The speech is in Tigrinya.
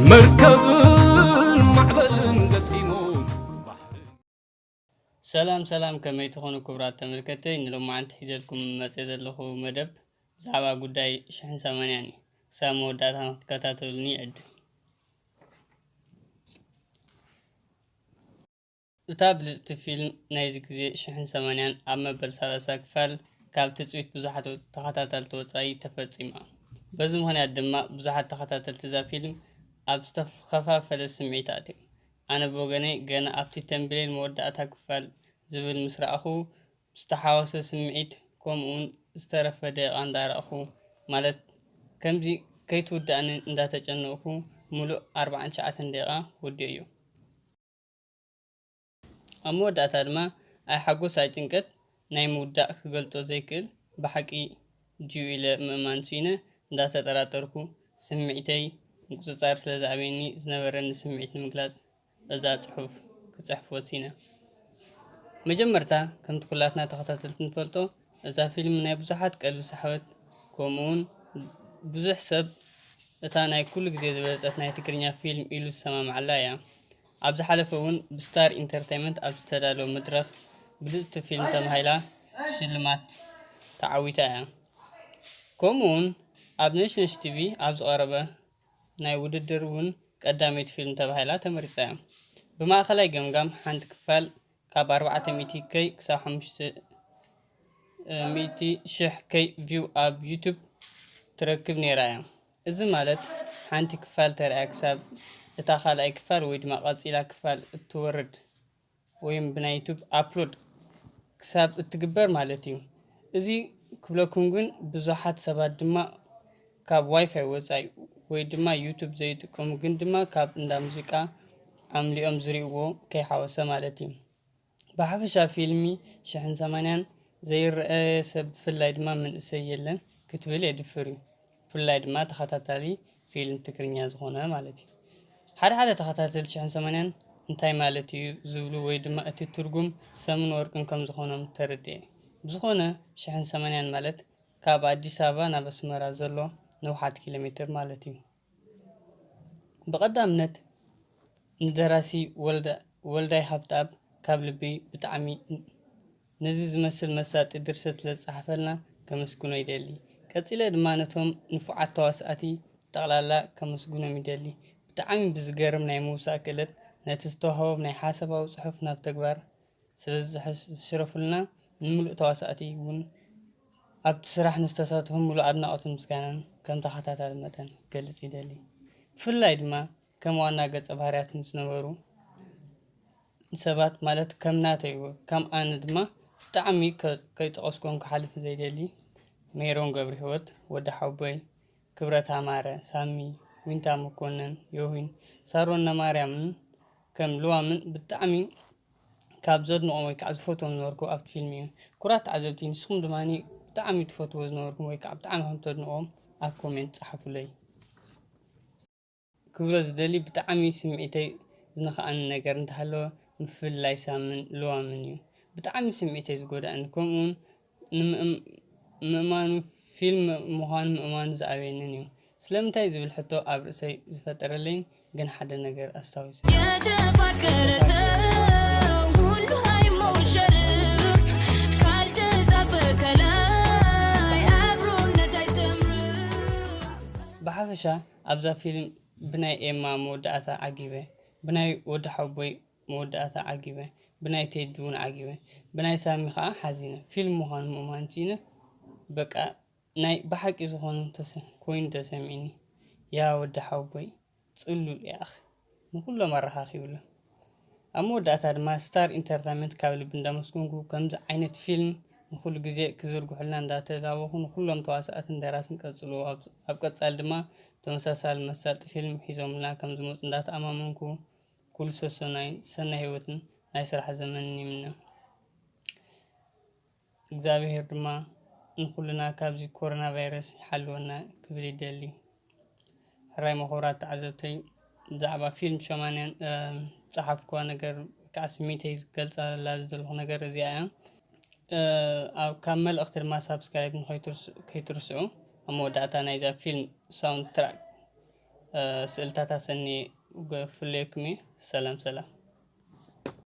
መርከብን ማዕበልን ገጢሙ ሰላም ሰላም ከመይ ትኾኑ ክቡራት ተመልከቲ ንሎማዓንቲ ሒዘልኩም መፀ ዘለኹ መደብ ብዛዕባ ጉዳይ ሽሕን ሰማንያን እዩ ክሳብ መወዳእታ ንክትከታተሉኒ ይዕድም እታ ብልጽቲ ፊልም ናይዚ ግዜ ሽሕን ሰማንያን ኣብ መበል ሰላሳ ክፋል ካብ ትጽቢት ብዙሓት ተኸታተልቲ ወጻኢ ተፈጺማ። በዚ ምኽንያት ድማ ብዙሓት ተኸታተልቲ እዛ ፊልም ኣብ ዝተኸፋፈለ ስምዒት ኣትዮም። ኣነ ብወገነይ ገና ኣብቲ ተምብኔል መወዳእታ ክፋል ዝብል ምስ ረኣኹ ዝተሓዋወሰ ስምዒት ከምኡውን ዝተረፈ ደቂቓ እንዳረኣኹ ማለት ከምዚ ከይትውዳእኒ እንዳተጨነቕኩ ምሉእ ኣርብዓን ትሽዓተን ደቂቓ ወዲኦዮ። ኣብ መወዳእታ ድማ ኣይ ሓጎስ ኣይ ጭንቀት ናይ ምውዳእ ክገልጾ ዘይክእል ብሓቂ ጅዩ ኢለ ምእማን ስኢነ እንዳተጠራጠርኩ ስምዒተይ ምቁጽጻር ስለ ዝኣበየኒ ዝነበረኒ ስምዒት ንምግላጽ እዛ ጽሑፍ ክጽሕፍ ወሲነ። መጀመርታ ከምቲ ኩላትና ተኸታተልቲ ንፈልጦ እዛ ፊልም ናይ ብዙሓት ቀልቢ ሰሓበት ከምኡውን ብዙሕ ሰብ እታ ናይ ኩሉ ግዜ ዝበለጸት ናይ ትግርኛ ፊልም ኢሉ ዝሰማምዓላ እያ። ኣብ ዝሓለፈ እውን ብስታር ኢንተርተይመንት ኣብ ዝተዳለወ መድረኽ ብልፅቲ ፊልም ተባሂላ ሽልማት ተዓዊታ እያ። ከምኡ እውን ኣብ ነሽነሽ ቲቪ ኣብ ዝቐረበ ናይ ውድድር እውን ቀዳመይቲ ፊልም ተባሂላ ተመሪፃ እያ። ብማእኸላይ ገምጋም ሓንቲ ክፋል ካብ ኣርባዕተ ሚእቲ ከይ ክሳብ ሓሙሽተ ሚእቲ ሽሕ ከይ ቪው ኣብ ዩቱብ ትረክብ ነይራ እያ። እዚ ማለት ሓንቲ ክፋል ተርእያ ክሳብ እታ ካልኣይ ክፋል ወይ ድማ ቀጺላ ክፋል እትወርድ ወይም ብናይ ዩቱብ ኣፕሎድ ክሳብ እትግበር ማለት እዩ። እዚ ክብለኩም ግን ብዙሓት ሰባት ድማ ካብ ዋይፋይ ወፃኢ ወይ ድማ ዩቱብ ዘይጥቀሙ ግን ድማ ካብ እንዳ ሙዚቃ ኣምሊኦም ዝሪእዎ ከይሓወሰ ማለት እዩ። ብሓፈሻ ፊልሚ ሽሕን ሰማንያን ዘይረኣየ ሰብ ብፍላይ ድማ መንእሰይ የለን ክትብል የድፍር እዩ። ብፍላይ ድማ ተኸታታሊ ፊልም ትግርኛ ዝኾነ ማለት እዩ። ሓደ ሓደ ተኸታተልቲ ሽሕን ሰማንያን እንታይ ማለት እዩ ዝብሉ ወይ ድማ እቲ ትርጉም ሰምን ወርቅን ከም ዝኾኖም ተረድኤ። ብዝኾነ ሽሕን ሰማንያን ማለት ካብ ኣዲስ ኣበባ ናብ ኣስመራ ዘሎ ንውሓት ኪሎሜትር ማለት እዩ። ብቀዳምነት ንደራሲ ወልዳይ ሃብትኣብ ካብ ልቢ ብጣዕሚ ነዚ ዝመስል መሳጢ ድርሰት ስለዝጸሓፈልና ከመስግኖ ይደሊ። ቀጺለ ድማ ነቶም ንፉዓት ተዋሳእቲ ብጠቅላላ ከመስግኖም ይደሊ ብጣዕሚ ብዝገርም ናይ ምውሳእ ክእለት ነቲ ዝተዋህቦም ናይ ሓሳባዊ ጽሑፍ ናብ ተግባር ስለዝሽረፉልና ንሙሉእ ተዋሳእቲ ውን ኣብቲ ስራሕ ንዝተሳተፉ ሙሉእ ኣድናቖትን ምስጋናን ከም ተኸታታሊ መጠን ክገልጽ ይደሊ። ብፍላይ ድማ ከም ዋና ገጸ ባህርያት ንዝነበሩ ሰባት ማለት ከም ናተይ ከም ኣነ ድማ ብጣዕሚ ከይጠቐስኩም ክሓልፍ ዘይደሊ ሜሮን ገብርሂወት፣ ወዲ ሓውቦይ፣ ክብረት ኣማረ፣ ሳሚ፣ ዊንታ መኮነን፣ ዮሂን፣ ሳሮን ን ማርያምን ከም ልዋምን ብጣዕሚ ካብ ዘድንቆም ወይ ከዓ ዝፈትዎም ዝነበርኩ ኣብቲ ፊልም እዩ። ኩራት ተዓዘብቲ ንስኩም ድማ ብጣዕሚ ትፈትዎ ዝነበርኩም ወይ ከዓ ብጣዕሚ ከም ተድንቅዎም ኣብ ኮሜንት ፃሓፉለይ። ክብሎ ዝደሊ ብጣዕሚ ስምዒተይ ዝነኽኣኒ ነገር እንተሃለወ ምፍልላይ ሳምን ልዋምን እዩ። ብጣዕሚ ስምዒተይ ዝጎድኣኒ ከምኡውን ንምእማኑ ፊልም ምዃኑ ምእማኑ ዝኣበየንን እዩ። ስለምንታይ ዝብል ሕቶ ኣብ ርእሰይ ዝፈጠረለይን ግን ሓደ ነገር ኣስታዊሰ። የተፋቀረ ሰው ሁሉ አይሞሸርም ካልተጻፈ ከላይ አብሮነት አይሰምርም። ብሓፈሻ ኣብዛ ፊልም ብናይ ኤማ መወዳኣታ ዓጊበ ብናይ ወዲ ሓውቦይ መወዳኣታ ዓጊበ ብናይ ቴዲ ውን ዓጊበ ብናይ ሳሚ ከኣ ሓዚነ ፊልም ምኳኑ ምእማን ሲኢነ በቃ ናይ ብሓቂ ዝኮኑ ኮይኑ ተሰሚዕኒ ያወዲ ሓውቦይ ጽሉል ኢኣክ። ንኹሎም ኣረኻኺብሉ። ኣብ መወዳእታ ድማ ስታር ኢንተርታይመንት ካብ ልቢ እንዳመስገንኩ ከምዚ ዓይነት ፊልም ንኹሉ ግዜ ክዝርግሑልና እንዳተላበኹ ንኹሎም ተዋሳእትን ደራስን ቀጽልዎ ኣብ ቀጻሊ ድማ ተመሳሳሊ መሳጢ ፊልም ሒዞምልና ከምዝመጹ እንዳተኣማመንኩ ኩሉ ሰሰናዩን ሰናይ ሂወትን ናይ ስራሕ ዘመንን ይምነ። እግዛብሄር ድማ ንኹልና ካብዚ ኮሮና ቫይረስ ይሓልወና ክብል ይደሊ። ሕራይ መኾራት ተዓዘብተይ ብዛዕባ ፊልም ሸማንያን ዝጸሓፍኩዋ ነገር ከዓ ስሚተይ ዝገልጸላ ዝደለኹ ነገር እዚኣ እያ። ካብ መልእኽቲ ድማ ሳብስክራይብ ከይትርስዑ። ኣብ መወዳእታ ናይዛ ፊልም ሳውንድ ትራክ ስእልታት ኣሰኒ ክፍለየኩም እየ። ሰላም ሰላም።